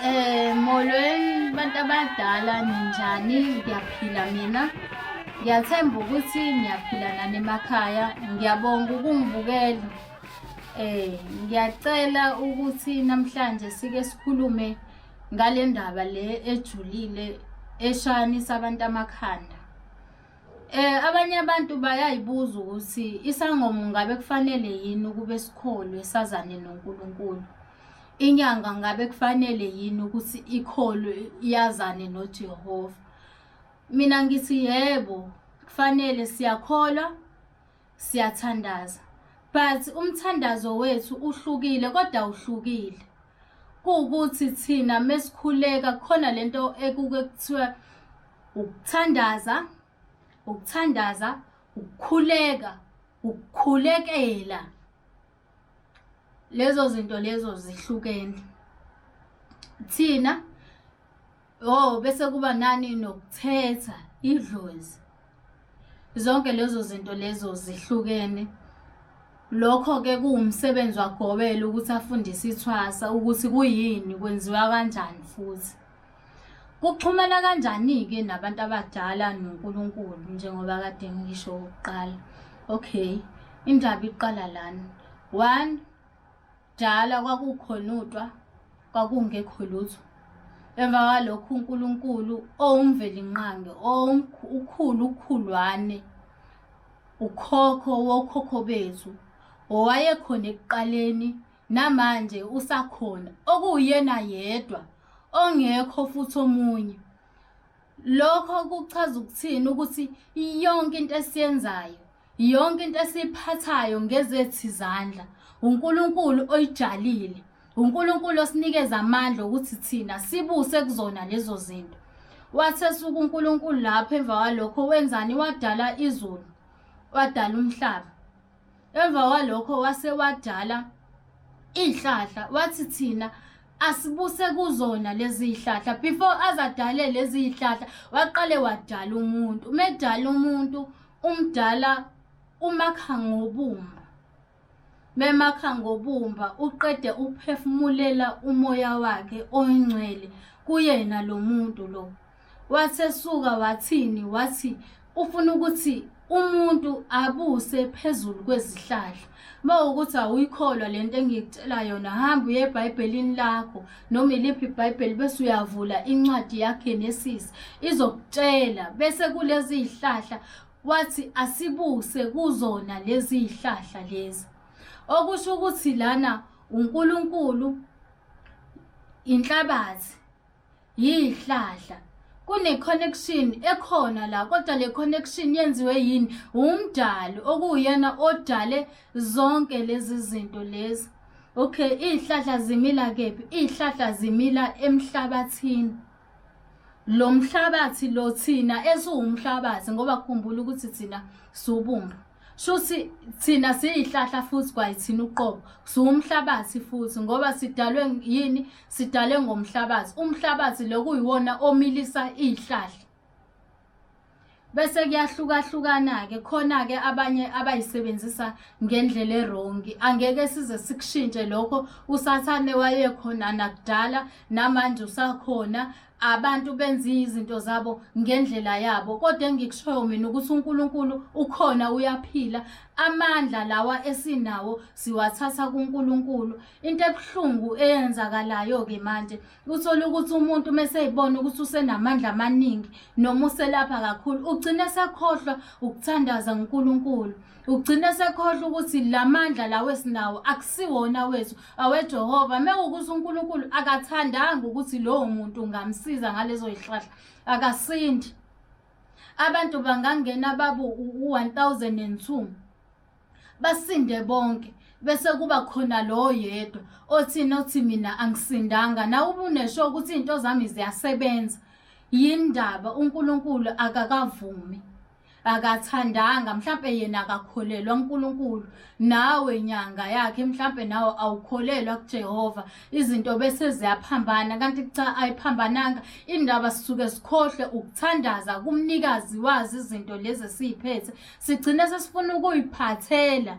Eh molweni bantu abadala ninjani ngiyaphila mina ngiyathemba ukuthi ngiyaphila nani emakhaya ngiyabonga ukungibukela eh ngiyacela ukuthi namhlanje sike sikhulume ngale ndaba le ejulile eshanisa abantu amakhanda Eh abanye abantu bayayibuza ukuthi isangoma ngabe kufanele yini ukube sikholwe sazane noNkulunkulu. Inyanga ngabe kufanele yini ukuthi ikholwe yazane noJehova. Mina ngithi yebo kufanele siyakholwa siyathandaza but umthandazo wethu uhlukile kodwa uhlukile. kuwukuthi thina mesikhuleka khona lento ekuke kuthiwa ukuthandaza ukuthandaza ukukhuleka ukukhulekela lezo zinto lezo zihlukene thina Oh bese kuba nani nokuthetha idlozi. Zonke lezo zinto lezo zihlukene. Lokho ke kuwumsebenzi wagobela ukuthi afundise ithwasa ukuthi kuyini kwenziwa kanjani futhi. Kuxhumana kanjani-ke nabantu abadala noNkulunkulu njengoba kade ngisho okokuqala? Okay, indaba iqala lana. One, Kudala kwakukhonutwa, kwakungekho lutho. Emva kwalokho uNkulunkulu owumvelinqange, ukhulu ukhulwane, ukhokho wokhokho bethu, owayekhona ekuqaleni namanje usakhona, okuwuyena yedwa ongekho futhi omunye. Lokho kuchaza ukuthini ukuthi yonke into esiyenzayo Yonke into esiyiphathayo ngezethi izandla, uNkulunkulu oyijalile. UNkulunkulu osinikeza amandla ukuthi thina sibuse kuzona lezo zinto. Wathesuka uNkulunkulu lapho emva kwalokho wenzani wadala izulu, wadala umhlaba. Emva kwalokho wase wadala izihlahla wathi thina asibuse kuzona lezi zihlahla before azadale lezi zihlahla waqale wadala umuntu. Umedala umuntu umdala umakha ngobumba memakha ngobumba uqede ukuphefumulela umoya wakhe oyingcwele kuyena lo muntu lo wasesuka wathini wathi ufuna ukuthi umuntu abuse phezulu kwezihlahla Uma ukuthi awuyikholwa le nto engikutshela yona hamba uye ebhayibhelini lakho noma iliphi ibhayibheli bese uyavula incwadi yaGenesis izokutshela bese kulezi zihlahla wathi asibuse kuzona lezi zihlahla lezi okusho ukuthi lana uNkulunkulu inhlabathi yihlahla kune-connection ekhona la kodwa le connection yenziwe yini wumdali okuwuyena odale zonke lezi zinto lezi okay iy'hlahla zimila kephi iy'hlahla zimila emhlabathini lo mhlabathi lo thina esiwumhlabathi ngoba khumbula ukuthi thina siwubumba shuthi thina siyihlahla futhi kwayithina uqobo siwumhlabathi futhi ngoba sidalwe yini sidalwe ngomhlabathi umhlabathi lokuyiwona omilisa izihlahla bese kuyahlukahlukana-ke khona-ke abanye abayisebenzisa ngendlela erongi angeke size sikushintshe lokho usathane wayekhona nakudala namanje usakhona abantu benza izinto zabo ngendlela yabo kodwa engikushoyo mina ukuthi uNkulunkulu ukhona uyaphila amandla lawa esinawo siwathatha kuNkulunkulu into ebuhlungu eyenzakalayo ke manje uthola ukuthi umuntu meseyibona ukuthi usenamandla amaningi noma uselapha kakhulu ugcine sekhohlwa ukuthandaza uNkulunkulu ugcine sekhohlwa ukuthi lamandla lawo esinawo akusiwona wethu awejehova mekukuthi unkulunkulu akathandanga ukuthi lowo muntu ungamsiza ngalezo yihlahla akasindi abantu bangangena babu u-1002 basinde bonke bese kuba khona lowo yedwa othi nothi mina angisindanga nawe ubunesho ukuthi iy'nto zami ziyasebenza yini ndaba unkulunkulu akakavumi akathandanga mhlampe yena akakholelwa uNkulunkulu nawe nyanga yakhe mhlampe nawe awukholelwa kuJehova izinto bese ziyaphambana kanti cha ayiphambananga indaba sisuke sikhohle ukuthandaza kumnikazi wazi izinto lezi esiphethe sigcine sesifuna ukuyiphathela